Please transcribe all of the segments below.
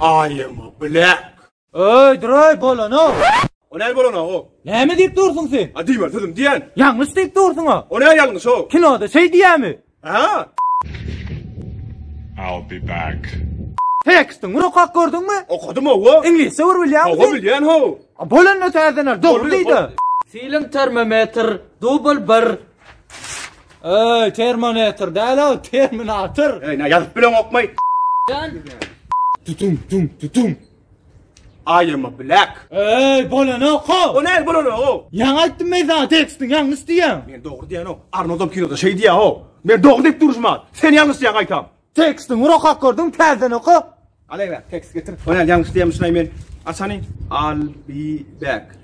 I am a black. Öy, duray bolana. O ne bolana o? Näme diýip dursuň sen? A diýme sözüm diýen. Ýalňyş diýip dursuň o. O ne ýalňyş o? Kinoda şeý diýämi? I'll be back. Teksti ňur okap gördüňmi? Okadym hawa. Iňlisçe bir bilýäňmi sen? Hawa bilýän how. A bol onda täzeler dogry diýdi. Film termometr dubl bir. Öý termonetr däl ow terminatr. Öýna ýazyp bileňokmy? Jan. Tutum tum tutum. I am a black. Eý, bolanok-a! O näl bolanok-ow? Ýaňy aýtdym men saňa tekstiň ýalňyş diýýän. Men dogry diýýänok. Arnoldam kinoda şeý diýýä-ow. Men dogry diýip duruşman. Sen ýalňyş diýýäň gaýtam. Tekstiň bir okap gördüň, täzeden oka. Alaý-bä, tekst getir. O näl ýalňyş diýýänmişin-aý men. Açany. I'll be back.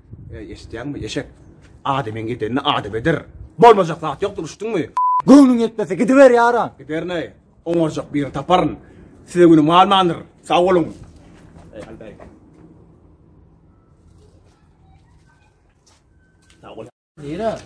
Eý, eşitýäňmi, eşek? Adamyň gidenini adam eder. Bolmajak zat ýokdur, eşitdiňmi? Göwnüň ýetmese gidiber ýaran. Giderin eý, oňarjak birini taparyn. Size günüm galmandyr. Sag boluň. Eý, Halbäý. Sag bol. Nire?